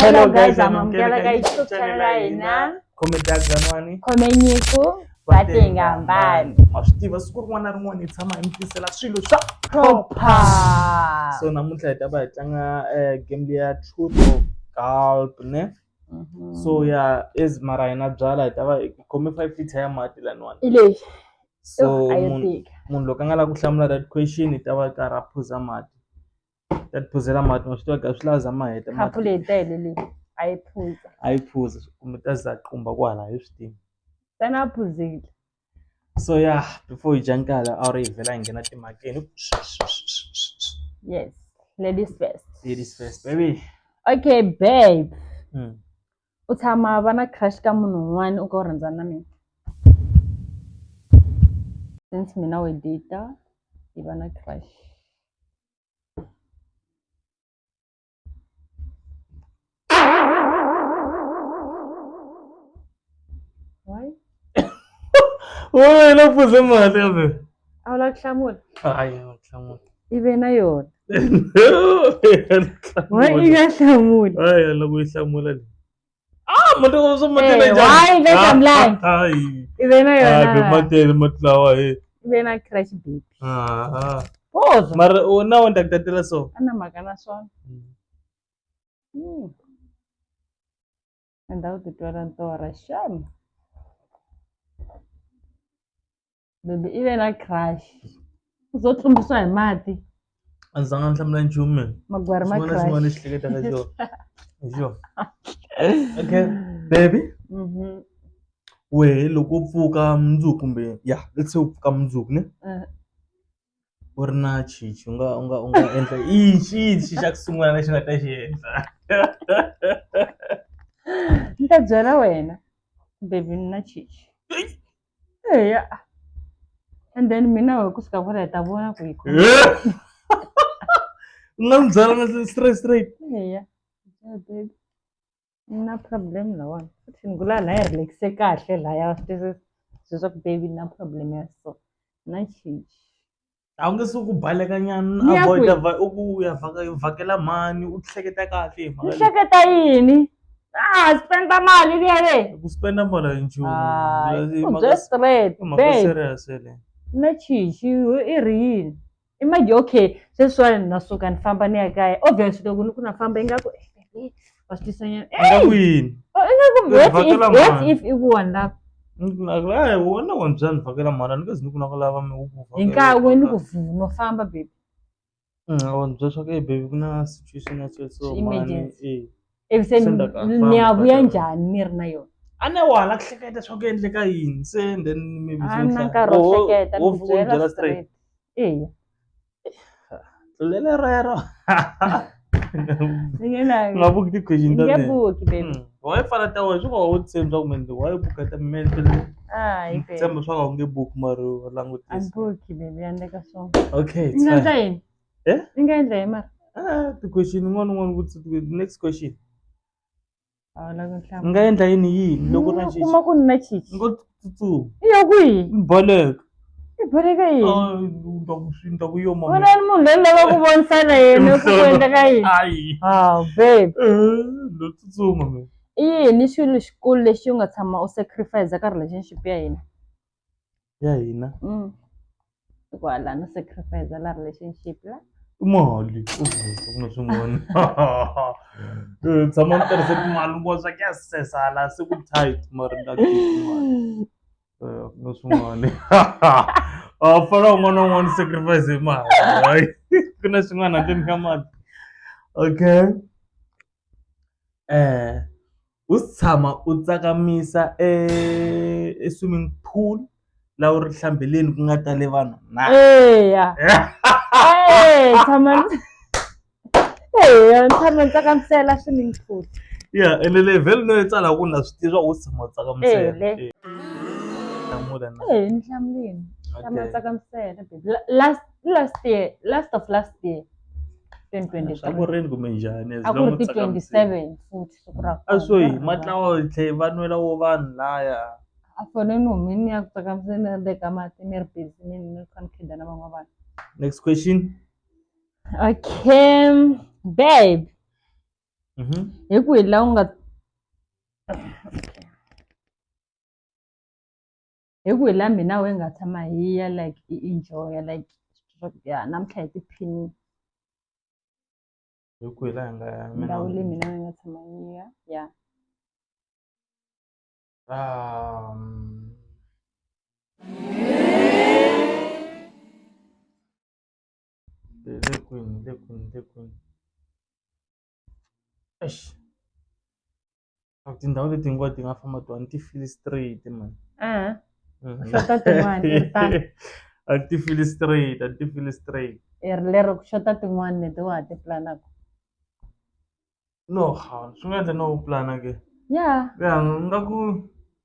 Hello guys, amamukela ka YouTube channel ya hina khome data n'wani khome nyiko vatenga mbani ma swi tiva siku rin'wana na rin'wana hi tshama hi mi tisela swilo swa proper so namuntlha hi ta va hi tlanga eh, game leya truth or gulp ne Mhm. so ya as mara hina byala hi ta va hi khome five liter ya mati laniwani i lexi so a yo munhu tika munhu loko a nga lavi ku hlamula that question hi ta va hi karhi a phuza mati ta tiphuzela mati ma swi tiva ku a swi lavi u za ma heta khapu leyi tele leyi a yi phuza a yi phuza kumbe u ta za qumba kwala a yi swi tivi ntsena a phuzile so ya before yi dya nkala a ri yi vhela yi nghena timhakeni yes ladies first ladies first baby okay babe mm. u tshama va na crush ka munhu un'wana u ka u rhandzana na mina since mina we data hi va na crush wena la pfuze mali kambe a wu lava ku hlamula hayi hlamula i ve na yona wa i nga hlamuli hayi la ku yi hlamula leyi Ah, mata ko san mata na Eh, jam. why make am lie? Ai. Ibe na Ah, yona. be mata be mata wa eh. Ibe na crash baby. Ah. ah. Pause. Mar o na wanda da dala so. Ana magana son. Mm. Enda utitwala ntora sham. baby i ve na crush u zo tlumbisiwa hi mati a ndzi zanga ni hlamula nchumu mina magwari ma xin'wana na xin'wana lexi crush hleketaka hi xona hi xona okay baby Mhm. wehe loko u pfuka mundzuku kumbe ya let's say u pfuka mundzuku ne Eh. u ri na chichi u nga u nga u nga endla i xi xi xa ku sungula lexi nga ta xi endla ni ta byela wena baby ni na chichi eya and then mina wehe kusuka kwala hi ta vona ku yi u nga n'wi byela straight straight eya baby. na problem lawona futhi ni ku la la yi relax-e kahle laya swi twisisa swilo swa ku baby na problem ya so na change a wu nge se ku baleka nyana Ni ya avoid kwihi? u ku ya vhaka- vhakela mhani u hleketa kahle hi ni mhaka leyi. hleketa yini ah spenda mali liya le ku spenda mali hi nchumu Hayi, Hi u mhaka- bye straight hi mhaka babe serious yeleyo na change i ri yini i mind okay sweswiwani na suka ni famba ni ya kaya obvious loko ni ku na famba ingaku eh, wa swi tisa nyana nga Hey! kwini Oh, ingaku Ni what vhakela if- what mhani. if i ku one love ayi wona wa mbyani vhakela mhani a ni kazi ni ku na ku lava mi hi nkarhi we ni ku vhuma famba baby wa mbyani swa ku e baby ku na situation ya so so mhani Emergency. eh ekuseni Senda ka- ni famba ya vuya ka- njhani ni ri na yona a ne wa hala ku hleketa swa ku endleka yini se and then mi a Ah, na nkarhi wo Wo- hleketa wo- ni wo byela byela straight. straight eya tlulele rero ni nge na- nga buki ti-question ta nge mina. buki baby Mm. waye fana ta wena swi nga wu tshembi swa ku mende waye buka ta mente le hayi baby tshemba swa ku a wu nge buki mari wa a ni langutisa buki baby ya ndeka swona okay it's ni nga fine. endla yini Eh? ni nga endla hi mara Ah, ti-question un'wana un'wana u vutisa ti- next question a wu lavi ni nhlamulo nga endla yini yini loko na Ni kuma ku ni na chichi ngo tsutsuma i ya kwihi ni baleka i boleka yini Ah, ndza ku swi- ndza ku yo mama. wena ni munhu loyi ni lava ku vonisana yena ku ku endla ka yini Ayi. haw babe Eh, ndo tsutsuma mina i yini xilo xikulu lexi u nga tshama u sacrifice ka relationship ya hina ya hina Mm. hikuva laha no sacrifice la relationship la i mali u zisa ku na swin'wana Eh, tshama ni tirhise timali ngo swa ku ya sesa la se ku tight mara ni ta khipha mali Eh, ku na swin'wana a fana un'wana na un'wana sacrifice hi mali hayi ku na swin'wana handleni ka mali okay eh U tshama u tsakamisa e e swimming pool la u ri hlambeleni ku nga tale vanhu na eya eya tshama ndzi eya ni tshama ni tsakamisela swimming pool ya ene level no yi tsala ku na swi tiva u tshama u tsakamisela Eya, le. Eh. Hlamula na. eya ni hlamulini tshama Okay. ni tsakamisela baby La- last last year last of last year twenty twenty Swa ku three rini kumbe njhani as a ku long ri u ti twenty tsakamisile. seven futhi siku ra a swo yi matlawa hi tlhe va nwela wo vanhu laya a fone no mi ni ya ku tsakamisa ni ri teka mati ni ri busy ni ni kha ni khida na van'wana vanhu next question okay babe mhm hi ku hi la u nga hi ku hi la mina we nga tshama hi ya like i enjoya like ya namuntlha hi tiphinile hi kwihi laha hi nga ya mina ndhawu leyi mina ni nga tshama ni ya ya Um, le le kwini le kwini le kwini eish a ku tindhawu leti hinkwato ti nga famba tona ti feel straight man xota tin'wani a ti feel straight a ti feel straight lero ku xota tin'wani leti wa ha ti pulanaka no ha swi nga endla no u pulana ke ya ya nga ku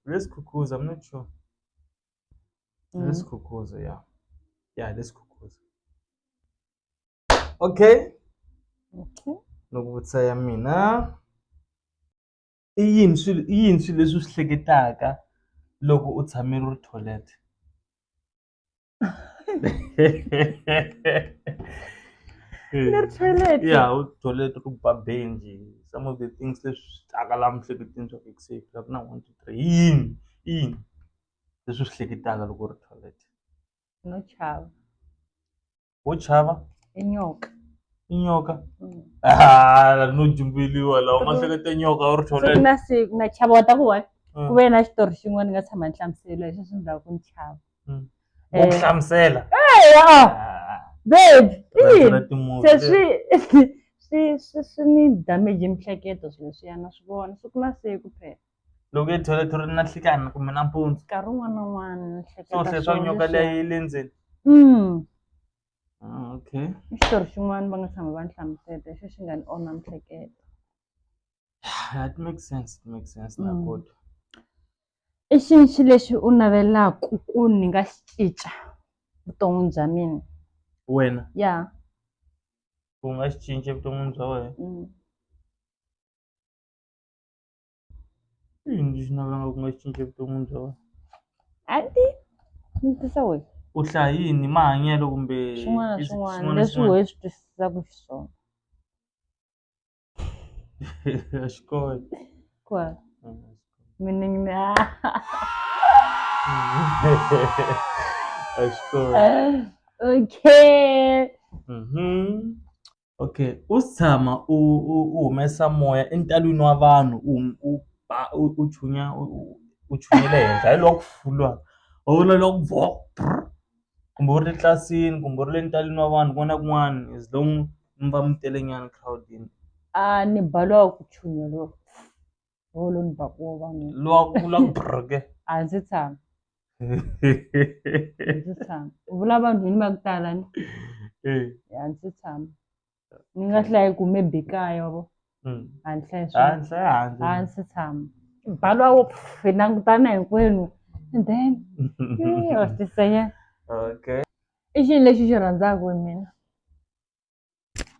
let's khukhuza i'm not sure let's mm. khukhuza ya ya let's khukhuza okay okay loko vutisa ya mina i yini swilo i yini swilo leswi u swi hleketaka loko u tshame u ri toilet ni ri toilet ya u toilet ku ba benji some of the things leswi taka la miehleketweni swa ku se ku na one two three i yini i yini leswi u swi hleketaka loko u ri toilet no chava. wo chava inyoka inyoka Mm. Ah, no jumbeliwa lawa ma hleketa nyoka u ri siku tholele na siku na chava wa ta ku wa ku ve na xitori xin'wana ni nga tshama ni hlamusela leswi swi ndlaku ni chava u ku hlamusela eya Ah, babe rhandza ina. ra timovha se leri. swi swi swi swi ni damage mihleketo swilo leswiyana swi vona siku na siku phela loko i toilet u ri na nhlikani kumbe nampundzu nkarhi wun'wana na wun'wana ni hleketa swona leswaku nyoka liya yi le ndzeni okay i xitori xin'wana va nga tshama va ni hlamuseta hi xo xi nga ni onha miehleketo it make sense it make sense na kota i xinxi lexi u navelaku ku ni nga xi cinca vuton'wini bya mina wena ya u nga xi cinca evuton'wini bya wena. I yini lexi navelaka ku nga xi cinca evuton'wini bya wena? A ni tivi ni vutisa wena. U hlaya yini hi mahanyelo kumbe swin'wana na swin'wana leswi wehe swi twisisaka xiswona a xi kona kwala meaning ni a xi kona okay. Okay u se tshama u u u humesa moya entalwini wa vanhu u u ba u u chunya u u chunyela ehenhla hi loko u vona loko kumbe u ri tlilasini kumbe u ri le ntalwini wa vanhu kun'wana na kun'wana as long mi va mi telenyana egirawundini a ni ba loko ku chuha loko. Bolo ni ba kuwo va n'wi. Lwa ku la ku brr ke. A ndzi tshama. A ndzi tshama. U vula vanhu yini va ku tala ni? Eh. A ndzi tshama. Ni nga hlayi ku maybe kaya wa vo. Mm. A ni hlayi swona. A ni hlayi handle. A ndzi tshama. Ba lwa wo pff, hi langutana hinkwenu and then eh, wa swi tisanyana. Okay. I xilo lexi xi rhandzaka hi mina.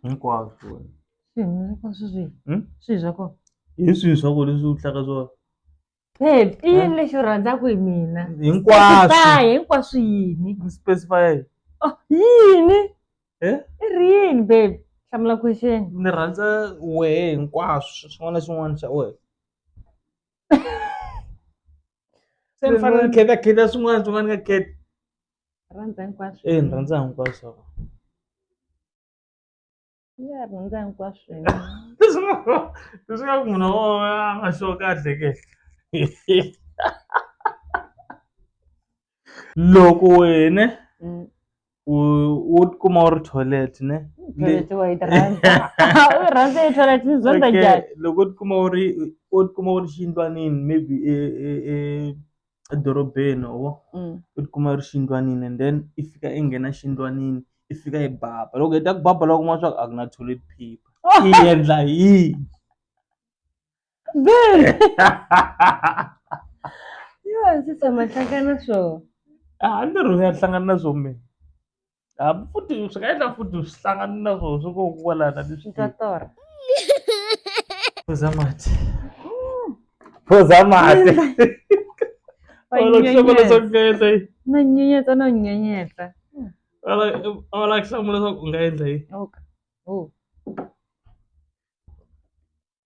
hinkwaswo wena swilo hinkwaswo swi Hmm? swilo swa kona hi swihi swa ku leswi u hlaka swona babe i yini lexi u rhandzaka hi mina hinkwaswo Specify, hinkwaswo yini Ni specify Oh, yini Eh? i ri yini babe hlamula question ni rhandza wehe hinkwaswo xin'wana na xin'wana xa wehe se ni fanele ni kheta kheta swin'wana swin'wana ni nga kheti rhandza hinkwaswo e ni rhandza hinkwaswo ya rhandza hinkwaswo leswi nga leswi nga ku munhu wo a nga sure kahle ke loko wena Mm. u u tikuma u ri toilet ne Toilet wa yi rhandza u yi rhandza yi toilet ni zonda Okay, njhani loko u tikuma u ri u tikuma u ri xiyindlwanini maybe e e e edorobeni or Mm. u tikuma u ri xiyindlwanini and then i fika i nghena xiyindlwanini i fika i baba loko heta ku baba loko kuma swa ku a ku na toilet paper i endla yini Bẹ́ẹ̀ ni. Yóò sì tẹ̀mọ hlangana swo. A ni ri ya hlangana na swo me. A futhi swi nga endla futhi swi hlangana na swo swi ko kwalana ni swi Ndza torha. phuza mati. Phuza mati. Wa Wala ku hlamula nyenyeta. leswaku u nga endla yini? Na nyenyeta no nyenyeta. Wala wala ku hlamula leswaku u nga endla yini? Okay. Oh.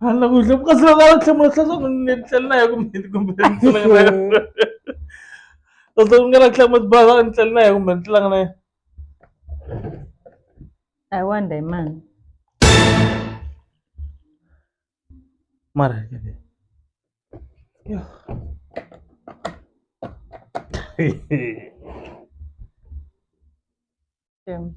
Hala kuhle kasi va nga va hlamula swa swona ni tlhela na ya kumbe kumbe ni tlanga na yona kasi ku nga na hlamula tibaza ni tlhela na ya kumbe ni tlanga na yona I wonder hi mani mara yo Damn.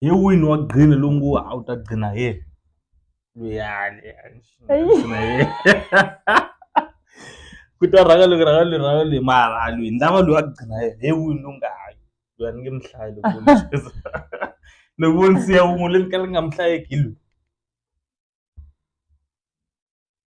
hi wini wa green lowu ngo a wu ta gcina hi yena luyani ku ta rhanga loko rhanga lweyi rhanga lweyi mara a lweyi ni lava loyi a gcina hi yena hi wini lowu nga hayi loyi a ni nge mi hlayi loko loko vo ni siya wun'we loyi ni ka ni nga mi hlayeki hi lweyi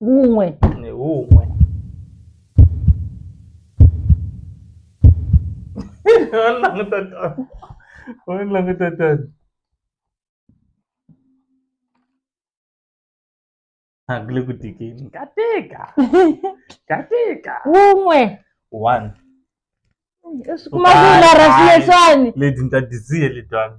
wun'we ni wun'we va languta tani va languta tani a ku le ku tikeni ka tika ka tika wun'we one kuma ku larasieswani leti ni ta disiye letwani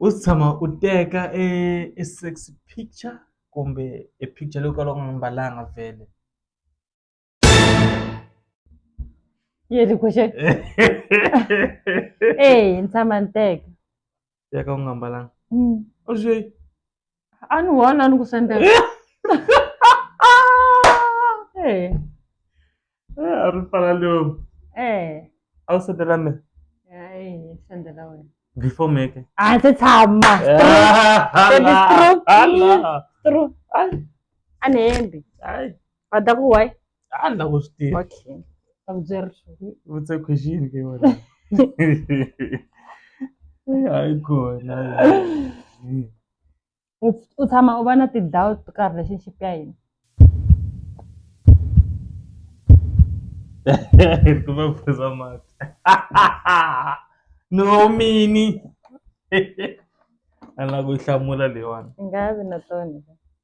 U se tshama u teka e e sexy picture kumbe e picture leyi u kalaka u nga mbalanga vhele yini ku xe eyi ni tshama ni teka teka u nga mbalanga u swi. a ni wona ni ku sendela Eh, Eh, a ri fana leo eh. a wu sendela me Hayi, ni sendela wena before me ke a ndzi tshama Hala, True. hala. True. Ai, a ni hembi ai. va ta ku why a ni la ku swi tiva okay ta ku byeri vutse question ke wena hayi kona u u tshama u va na ti-doubt ka relationship ya hina ku va phuza mati no mini a ni la ku yi hlamula leyiwani i nga vi na tona.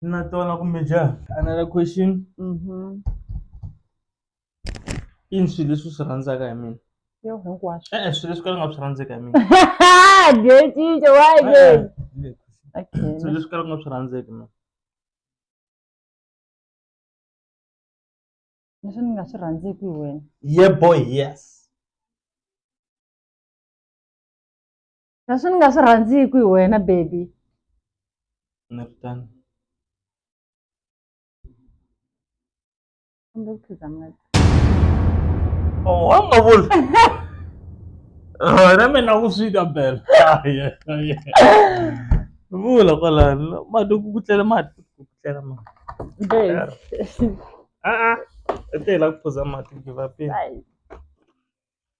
na tona kumbe njhani another question Mhm. i ni swilo leswi u swi rhandzaka hi mina Yo, hinkwaswo. e-e swilo leswi ka ni nga swi rhandzeki hi mina Dietinje, why Eh, again? eh, Okay. swilo leswi ka ni nga swi rhandzeki mina Leswi ni nga swi rhandzeki hi wena. ye boy yes Kasi ni nga swi rhandziki hi wena baby. Ni ri tano. Kumbe ku khiza mati. Oh, wa nga vula. Na mina ku swi ta bela. Vula kwalani. Mati ku ku tlela mati ku ku tlela mati. Babe. Ah ah. Etela ku phuza mati give up. Ai.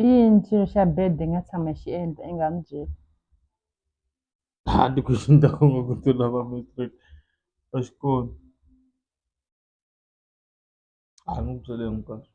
I yini xilo xa bad i nga tshama i xi endla i nga n'wi byeli a ti question ta kona ku ti lava matric a xi kona a ni n'wi byele hinkwaswo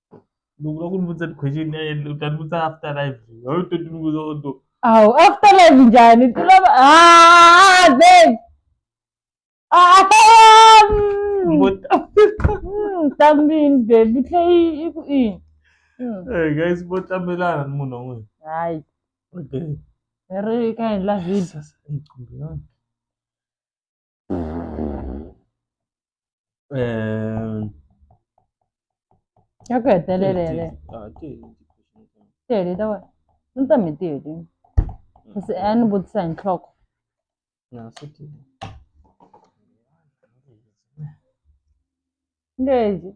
loko va ku ni vutisa ti-question u ta ni vutisa after life a wu to ti ni vutisa u to awu after life njhani ti lava ah babe ah tambini babe yi tlhe yi yi ku ini hey guys vo tlamelana ni munhu wan'wini hayi okay ri ka endla video Ngicumbi yona. Ehm, Ya kwete le le le. ah, ti- Tele ta wena. Ni ta mi tele. Se a ni vutisa hi nhloko. na swi ti- Ngezi.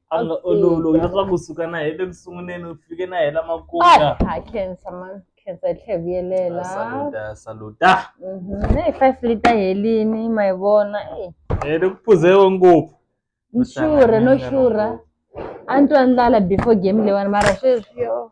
a nga Okay. ololovi na swa kusuka na hi le ku sunguleni u fike na hi la makumu Ah, ha khensa ma khensa hi tlhe vuyelela saluta saluta Mhm, hey, five lita helini ma yi vona eh. hi le ku phuzewe ngopfu ni xurhe no xurha a ni twa ndlala before game leyiwani mara sweswi yo